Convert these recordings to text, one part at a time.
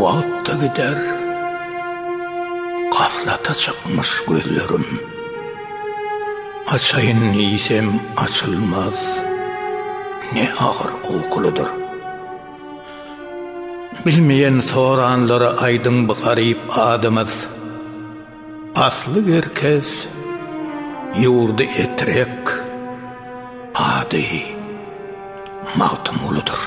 Wagt-da gider, gaflata çykmyş gözlerim. Açaýyn diýsem açylmaz, ne agyr ukulydyr. Bilmeýän soranlara aýdyň bu garyp adymyz. Asly Gerkez ýurdy Etrek, ady Magtymgulydyr.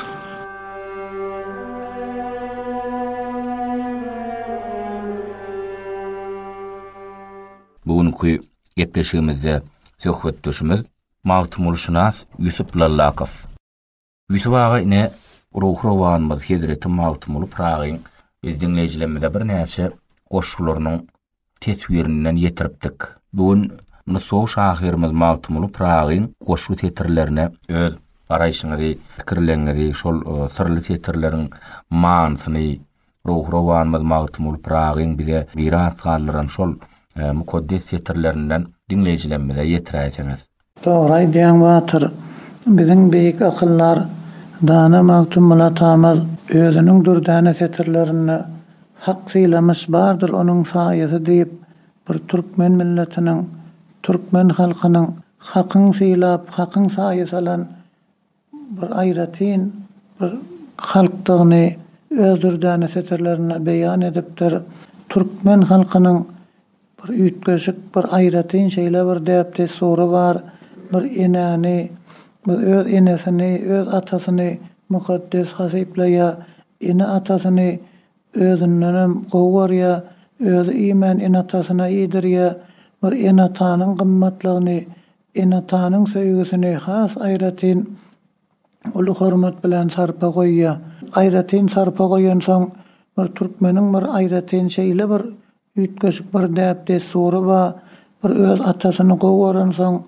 Bu günki gepleşigimizde söhbetdeşimiz Magtymgulyşynas Ýusup Lallakow. Ýusup aga ine ruhrowanymyz hezreti Magtymguly Pyragyň biz diňleýjilerimize birnäçe goşgularynyň teswirinden ýetiripdik. Bu gün nusgawy şahyrymyz Magtymguly Pyragyň goşgy setirlerine öz garaýşyňyzy, pikirleriňizi, şol syrly setirleriň manysyny, Ruhrowanymyz Magtymguly Pyragyň bize miras galdyran şol mukaddes setirlerinden diňleýjilerimize ýetiräýseňiz. Dogry aýdýaň Batyr. Biziň beýik akyldar, dana Magtymguly atamyz özüniň dürdäne setirlerinde Hak sylamyş bardyr onuň saýasy diýip bir türkmen milletiniň, türkmen halkynyň Hakyň sylap, Hakyň saýa salan, bir aýratyn bir halkdygyny öz dürdäne setirlerinde beýan edipdir. Türkmen halkynyň bir üýtgeşik, bir aýratyn şeýle bir däp-dessury bar, bir enäni, bir öz enesini, öz atasyny mukaddes hasyplaýar, ene-atasyny özündenem gowy görýär, özi iýmän ene-atasyna iýdirýär, bir ene-atanyň gymmatlygyny Ene-atanyň söýgüsini has aýratyn uly hormat bilen sarpa goýýar. Aýratyn sarpa goýansoň, bir türkmeniň bir aýratyn şeýle bir üýtgeşik bir däp-dessury bar, bir öz atasyny gowy görensoň,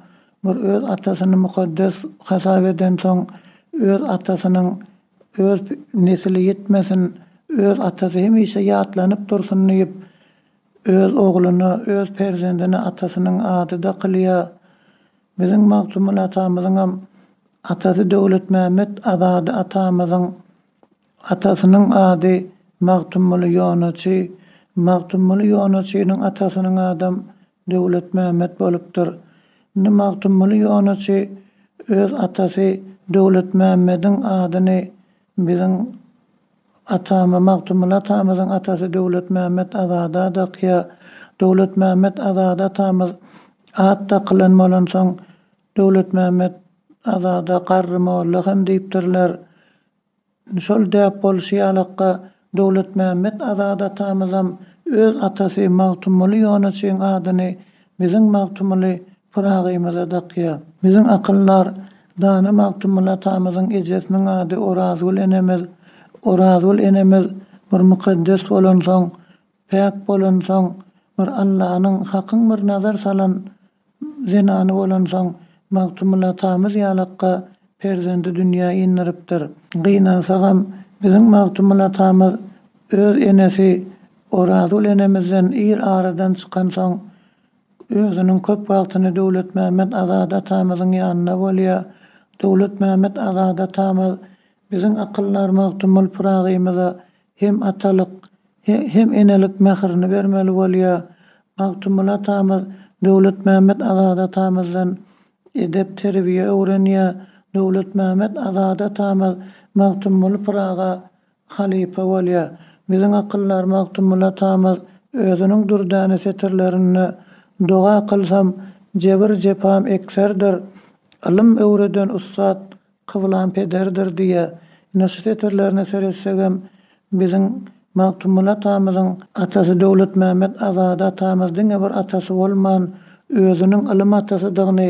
bir öz atasyny mukaddes hasap edensoň, öz atasynyň öz nesli ýitmesin, öz atasy hemişe ýatlanyp dursun diýip, Öz ogluna, öz perzendine atasynyň ady dakylýa. Biziň Magtymguly atamyzyňam atasy Döwletmämmet Azady atamyzyň atasynyň ady Magtymguly Ýonaçy, Magtymguly Ýonaçynyň atasynyň adam Döwletmämmet bolupdyr. Indi Magtymguly Ýonaçy öz atasy Döwletmämmediň adyny biziň. Atamy, Magtymguly atamyzyň atasy Döwletmämmet Azada dakýa. Döwletmämmet Azada atamyz at dakylan bolansoň, Döwletmämmet Azada Garry molla hem diýipdirler. Şol däp bolşy ýalakka, Döwletmämmet Azada atamyzam öz atasy Magtymguly Ýonuçyň adyny biziň Magtymguly Pyragymy-da dakýa. Biziň akyldar, dana Magtymguly atamyzyň ejesiniň ady Orazgül enemiz. Orazgül enemiz bir mukaddes bolansoň, päk bolansoň, bir Allanyň, Hakyň bir nazar salan zenany bolansoň, Magtymguly atamyz ýalakka perzendi dünýä indiripdir. Gynansagam, biziň Magtymguly atamyz öz enesi Orazgül enemizden ir aradan çykansoň, Özüniň köp wagtyny Döwletmämmet Azat atamyzyň ýanynda bolýar. Döwletmämmet Azat atamyz biziň akyldar Magtymguly Pyragymyza hem atalyk, hem enelik mährini bermeli bolýar. Magtymguly atamyz Döwletmämmet Azat atamyzdan edep-terbiýe öwrenýär. Döwletmämmet Azat atamyz Magtymguly Pyraga halypa bolýar. Biziň akyldar Magtymguly atamyz özüniň dürdäne setirlerinde, Doga kylsam, jebir-jepam ekserdir, Ylym öwreden ussat kyblam pederdir diýýär. Ine, şu setirlerine seretsegem, biziň Magtymguly atamyzyň atasy Döwletmämmet Azady atamyz diňe bir atasy bolman, özüniň ylym atasydygyny,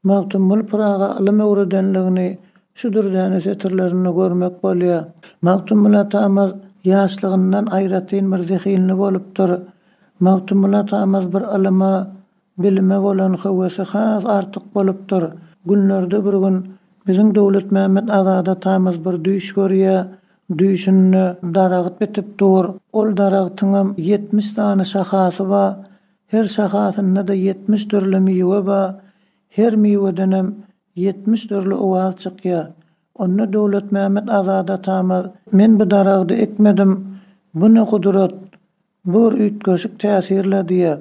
Magtymguly Pyraga ylym öwredenligini şu dürdäne setirlerinde görmek bolýar. Magtymguly atamyz ýaşlygyndan aýratyn bir zehinli bolupdyr. Magtymguly atamyz bir ylyma, bilime bolan höwesi has artyk bolupdyr. Günlerde bir gün biziň Döwletmämmet Azat atamyz bir düýş görýär. Düýşünde daragt bitip dur. Ol daragtyňam ýetmiş sany şahasy bar. Her şahasynda-da ýetmiş dürli miwe ba, her miwedenem ýetmiş dürli owaz çykýa. Onda Döwletmämmet Azady atamyz. Men bu daragdy ekmedim, bu ne gudrat, bur üýtgeşik täsirle diýýä.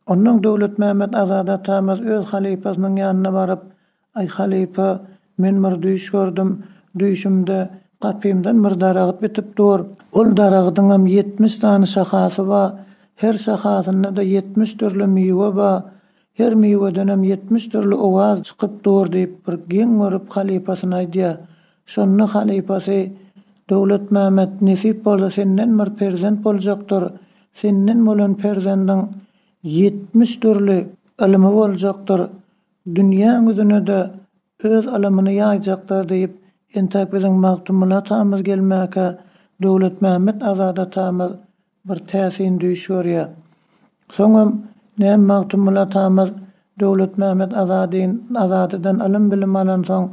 Onnoň Döwletmämmet Azady atamyz öz halypasynyň ýanyna baryp, Aý halypa, men bir düýş gördüm. Düýşümde gapymdan bir daragt bitip dur. Ol daragdyňam ýetmiş sany şahasy bar. Her şahasynda-da ýetmiş dürli miwe bar. Her miwedenem ýetmiş dürli owaz çykyp dur, diýip, bir geň görüp halypasyna aýdýar. Şonda halypasy, Döwletmämmet, nesip bolsa senden bir perzent boljakdyr. Senden bolan perzendiň ýetmiş dürli ylymy boljakdyr. Dünýä ňüzüne-de öz alymyny ýaýjakdyr diýip, entäk biziň Magtymguly atamyz gelmäkä, Döwletmämmet Azat atamyz bir täsin düýş görýär. Soňam, näm Magtymguly atamyz Döwletmämmet Azadyn Azadydan ylym-bilim alansoň,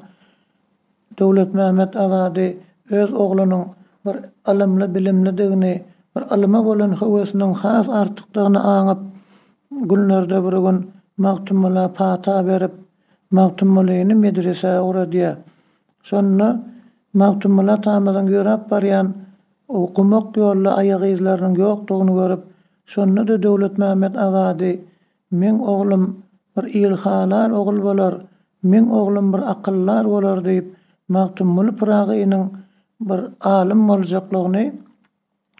Döwletmämmet Azady öz oglunyň bir ylymly-bilimlidigini, bir ylyma bolan höwesiniň has artykdygyny aňyp, günlerde bir gün Magtymgula pata berip, Magtymgulyny medresä ugradýar. Şonda Magtymguly atamyzyň ýöräp barýan gumak ýolda aýagyzlarynyň ýokdugyny görüp, şonda-da Döwletmämmet Azady Meň oglum bir ilhalar ogul bolar, meň oglum bir akyldar bolar diýip, Magtymguly Pyragynyň bir alym boljaklygyny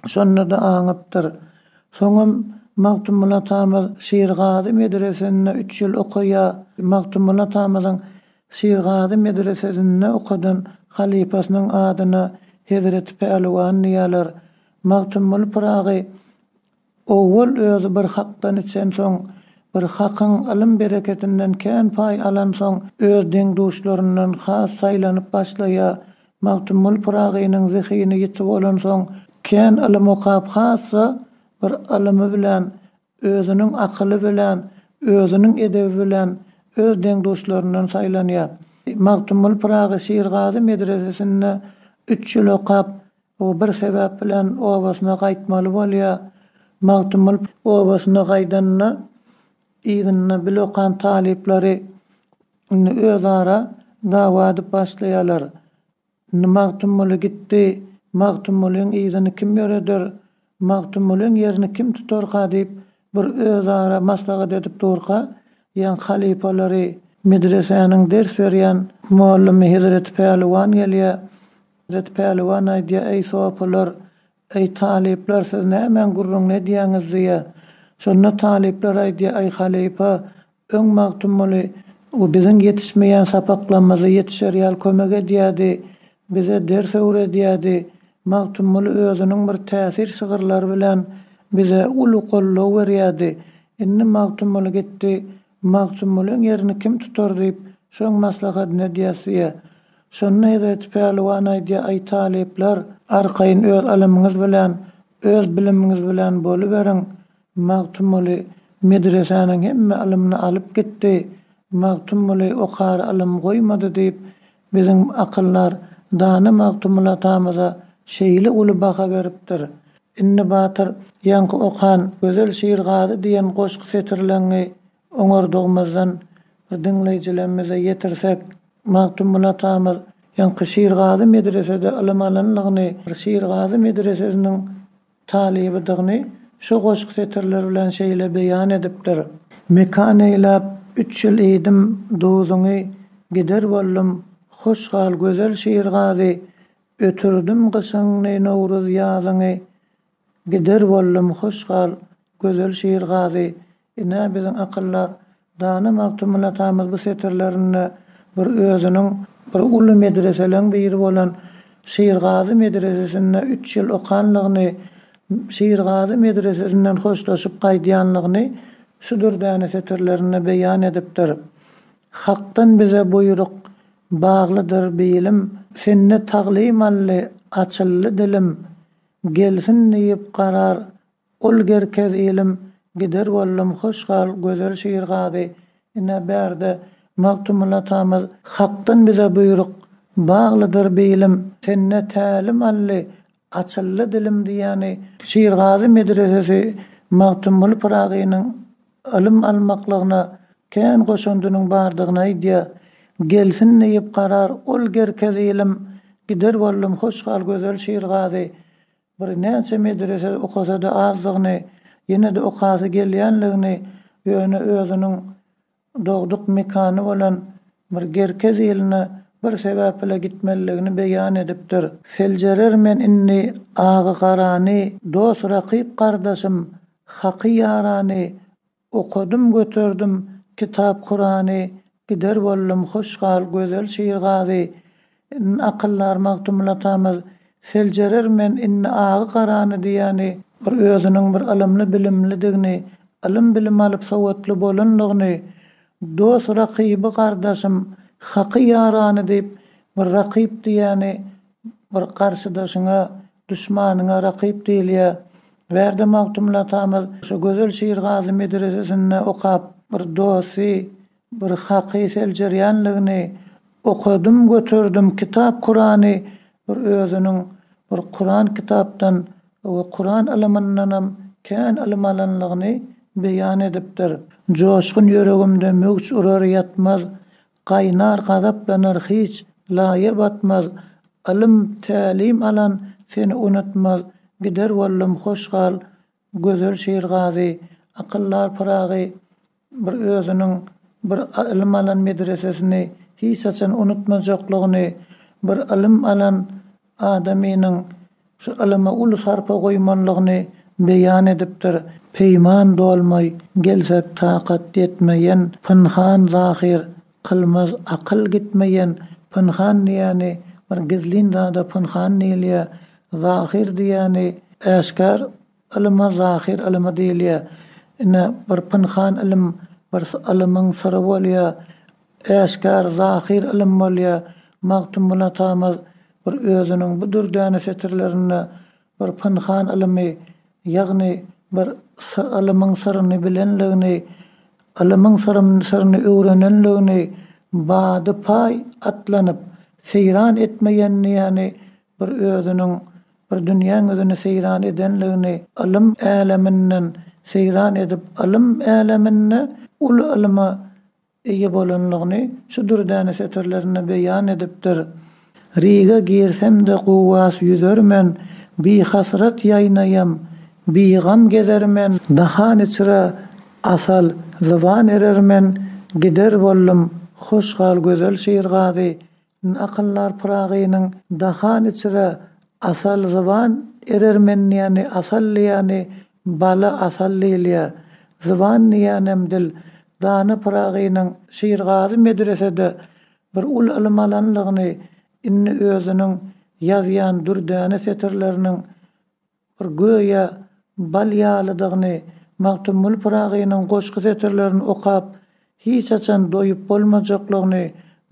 şonda-da aňypdyr. Soňam Magtymguly atamyz Şirgazy medresesinde üç ýyl okaýa. Magtymguly atamyzyň Şirgazy medresesinde okadan halypasynyň adyna Hezreti Pälwan diýerler. Magtymguly Pyragy Owal özi bir hakdan içensoň, bir hakyň ylym-bereketinden kän paý alansoň, öz deň-duşlaryndan has saýlanyp başlaýar. Magtymguly Pyragynyň zehini ýiti bolansoň, kän ylym okap, hassa bir ylymy bilen, özüniň akyly bilen, özüniň edebi bilen öz deň-duşlaryndan saýlanýar. Magtymguly Pyragy Şirgazy medresesinde üç ýyl okap, O bir sebäp bilen obasyna gaýtmaly bolýa. Magtymguly obasyna gaýdanda yzynda bile okan talyplary indi özara dawa edip başlaýarlar. Indi Magtymguly gitdi, Magtymgulyň yzyny kim ýöreder? Magtymgulyň ýerini kim tutarka diýip bir özara maslahat edip durka, ýaň halypalary, medresäniň ders berýän mugallamy Hezreti Pälwan gelýär. Hezreti Pälwan aýdýar, Eý sopylar, eý talyplar, siz nämäň gürrüňini edýäňiz diýýär. Şonda talyplar aýdýar, Eý halypa, Öň Magtymguly o biziň ýetişmeýän sapaklamyzy ýetişer ýaly kömek edýärdi, bize ders öwredýärdi. Magtymguly özüniň bir täsir şygyrlary bilen bize uly goldaw berýärdi. Indi Magtymguly gitdi, Magtymgulyň ýerini kim tutar diýip, şoň maslahatyny edýäs diýýä. Şonda Hezreti Pälwan aýdýar, Aý talyplar, arkaýyn öz ylymyňyz bilen, öz bilimiňiz bilen boluberiň. Magtymguly medresäniň hemme ylymyny alyp gitdi, Magtymguly okara ylym goýmady diýip, biziň akyldar, dana Magtymguly atamyza şeýle uly baha beripdir. Indi Batyr ýaňky okan Gözel Şirgazy diýen goşgy setirleňňi oňardygymyzdan bir diňleýjilemmize ýetirsek, Magtymguly atamyz ýaňky Şirgazy medresede ylym alanlygyny, Şirgazy medresesiniň, talybydygyny şu goşgy setirleri bilen şeýle beýan edipdir. Mekan eýläp üç ýyl iýdim duzuňy, Gider boldum, hoş gal gözel şirgazy, Ötürdim gyşyňy, nowruz ýazyňy, Gider boldum, hoş gal gözel şirgazy, Ine, biziň akyldar, dana Magtymguly atamyz bu setirlerinde bir özüniň bir uly medreseleň biri bolan Şirgazy medresesinde üç ýyl okanlygyny, Şirgazy medresesinden hoşlaşyp gaýdýanlygyny şudur däne setirlerinde beýan edipdir. Hakdan bize buýruk, baglydyr bilim, Sende taglymally, açyldy dilim, Gelsin diýip karar, Ol gerkez ilim gider boldum hoş gal gözel şir gazy ine bärde Magtymguly atamyz. Hakdan bize buýruk, baglydyr bilim. Sende tälim aldy, açyldy dilim diýýäni Şirgazy medresesi Magtymguly Pyragynyň ylym almaklygyna kän goşandynyň bardygyny aýdýar. Gelsin diýip karar Ol gerkez ilim gider boldum hoş gal gözel şir gazy Bir näçe medresede okasa-da azdygyny, ýene-de okasy gelýänligini, ýöne özüniň dogduk mekany bolan bir Gerkez iline bir sebäp bile gitmelidigini beýan edipdir. Seljerer men indi agy-garany, dost-rakyp-gardaşym, haky-ýarany, Okadym göterdim kitap Kurany Gider boldum hoş gal gözel şir gazy N akyldar Magtymguly atamyz Seljerer men indi agy garany diýýäni bir özüniň bir ylymly bilimlidigini ylym bilim alyp sowatly bolanlygyny Dos rakyby gardaşym haky ýarany diýip bir rakyp diýýäni bir garşydaşyňa Duşmanyňa rakyp diýilýär. Bärde Magtymguly atamyz şu gözel şiirgazy medresesinde okap, bir dosty, bir haky seljerýänligini, Okadym, göterdim kitap Kurany, bir özüniň bir Kuran kitapdan we Kuran ylymyndanam kän ylym alanlygyny beýan edipdir. Joşgun ýüregimde möwç urar ýatmaz, Gaýnar gazaplanar hiç, laýa batmaz, Ylym, tälim alan seni unutmaz, Gider boldum hoş gal, gözel şirgazy, Akyllar Pyragy bir özüniň bir ylym alan medresesini hiç haçan unutmajaklygyny, bir ylym alan adamynyň şu ylyma uly sarpa goýmanlygyny beýan edipdir. Peýman dolmaý, gelsek takat ýetmeýen pynhan zahyr, kylmaz akyl gitmeýen pynhan diýýäni bir gizlin zada pynhan diýilýär, zahyr diýýäni äşgär Ylyma zahyr ylymy diýilýär. Ine, bir pynhan ylym, bir ylymyň syry bolýar. Äşgär, zahyr ylym bolýar. Magtymguly atamyz bir özüniň bu dürdäne setirlerinde bir pynhan ylymy, ýagny bir ylymyň syryny bilenligini, ylymyň syryny öwrenenligini bady-paý atlanyp, seýran etmeýänini bir özüniň bir dünýä ňüzüni seýran edenligini ylym äleminden seýran edip ylym äleminde uly ylyma eýe bolanlygyny şu dürdäne setirlerinde beýan edipdir, Riga girsem-de guwas ýüzer men, Bihasrat ýaýnaýam, bigam gezer men, Dahan içre asal zyban erer men, Gider boldum hoş hal gözel şirgazy, Akyllar Pyragynyň Dahan içre asal zyban erer mendiýäni asal diýýäni bala asal diýilýä. Zyban diýýänem dil. Dana Pyragynyň Şirgazy medresede bir uly ylym alanlygyny indi özüniň ýazýan dürdäne setirleriniň Bir göýä bal ýalydygyny Magtymguly Pyragynyň goşgy setirlerini okap hiç haçan doýup bolmajaklygyny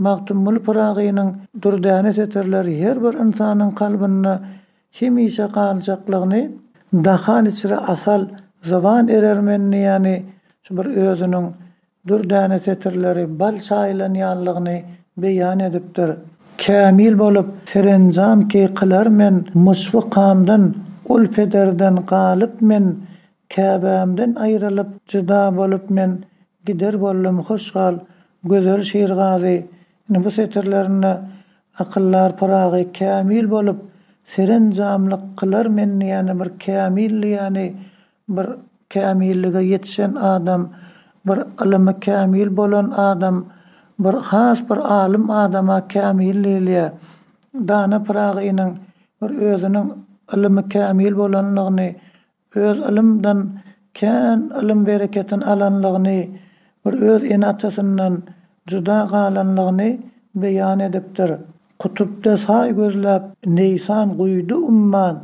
Magtymguly Pyragynyň dürdäne setirleri her bir ynsanyň kalbynda hemişe galjaklygyny Dahan içre asal zyban erer men diýýäni şu bir özüniň Dürdäne setirleri bal çaýylanýanlygyny beýan edipdir. Kämil bolup, serenjam ki kylar men Myşfykamdan, ul pederden galyp men Käbämden aýrylyp, jyda bolup men Gider boldum hoş gal, gözel şirgazy Ine, bu setirlerinde akyldar Pyragy kämil bolup, serenjamlyk kylar men diýeni bir kämil diýeni Bir kämillige ýetişen adam, bir ylymy kämil bolan adam, bir has bir alym adama kämil diýilýär. Dana Pyragynyň bir özüniň ylymy kämil bolanlygyny, öz ylymdan kän ylym bereketini alanlygyny, bir öz ene-atasyndan juda galanlygyny beýan edipdir. Kutupda saý gözläp, neýsan guýdy umman,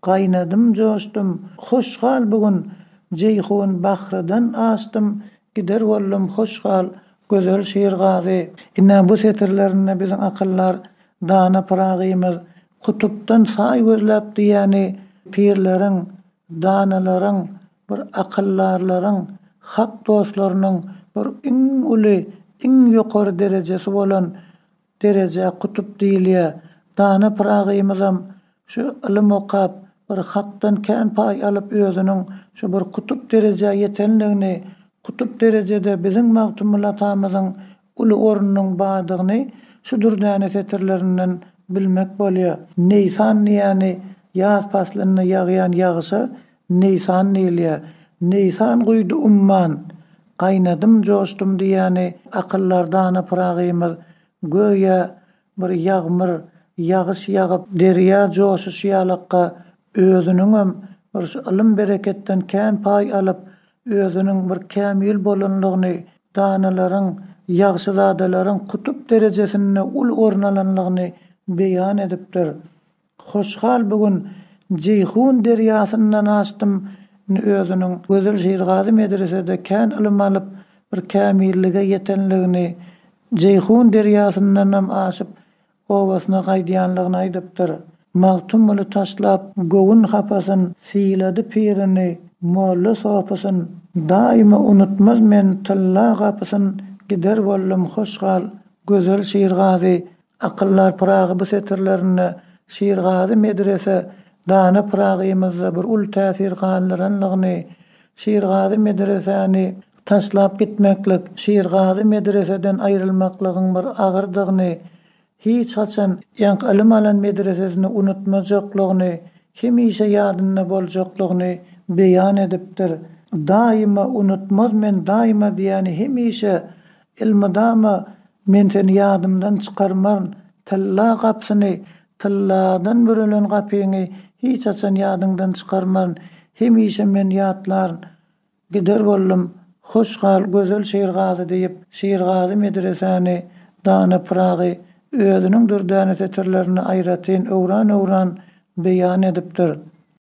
Gaýnadym joşdum, hoş gal bu gün, Jeýhun bahrydan aşdym, Gider boldum, hoş gal, gözel şirgazy. Ine, bu setirlerinde biziň akyldar dana Pyragymyz Kutupdan saý gözläp diýýäni pirleriň, danalaryň, bir akyldarlaryň, hak dostlarynyň bir iň uly, iň ýokary derejesi bolan Derejä kutup diýilýä. Dana Pyragymyzam şu ylym okap, bir hakdan kän paý alyp özüniň şu bir kutup derejä ýetenligini, kutup derejede biziň Magtymguly atamyzyň uly ornunyň badygyny şu dürdäne setirlerinden bilmek bolýa. Neýsan diýýäni ýaz paslynda ýagýan ýagyşa Neýsan diýilýär. Neýsan guýdy umman, Gaýnadym, joşdum diýýäni akyldar dana Pyragymyz göýä bir ýagmyr, ýagyş ýagyp, derýa joşuşy ýalakka, özüniňem bir şu ylym-bereketden kän paý alyp, özüniň bir kämil bolanlygyny, danalaryň, ýagşyzadalaryň kutup derejesinde uly orun alanlygyny beýan edipdir. Hoşhal bu gün Jeýhun derýasyndan aşdym. Indi özüniň Gözel Şirgazy medresede kän ylym alyp, bir kämillige ýetenligini, Jeýhun derýasyndanam aşyp, obasyna gaýdýanlygyny aýdypdyr. Magtymguly taşlap göwün hapasyn, Sylady pirini, molla sopysyn. Daýyma unutmaz men tylla gapysyn, Gider boldum hoşhal Gözel Şirgazy Akyldar Pyragy bu setirlerinde Şirgazy medrese dana Pyragymyzda bir uly täsir galdyrandygyny, Şirgazy medresäni taşlap gitmeklik, Şirgazy medreseden aýrylmaklygyň bir agyrdygyny, hiç haçan ýank ylym alan medresesini unutmajaklygyny, hemişe ýadynda boljaklygyny beýan edipdir. Daýyma unutmaz men daýyma diýýäni hemişe Elmydama Men seni ýadymdan çykarmaryn, tylla gapysyny, tylladan bürelen gapyňy hiç haçan ýadyňdan çykarmaryn, hemişe men ýatlaryn. Gider boldum. Hoş gal, gözel Şirgazy diýip, Şirgazy medresäni, dana Pyragy özüniň dürdäne setirlerinde aýratyn öwran-öwran beýan edipdir.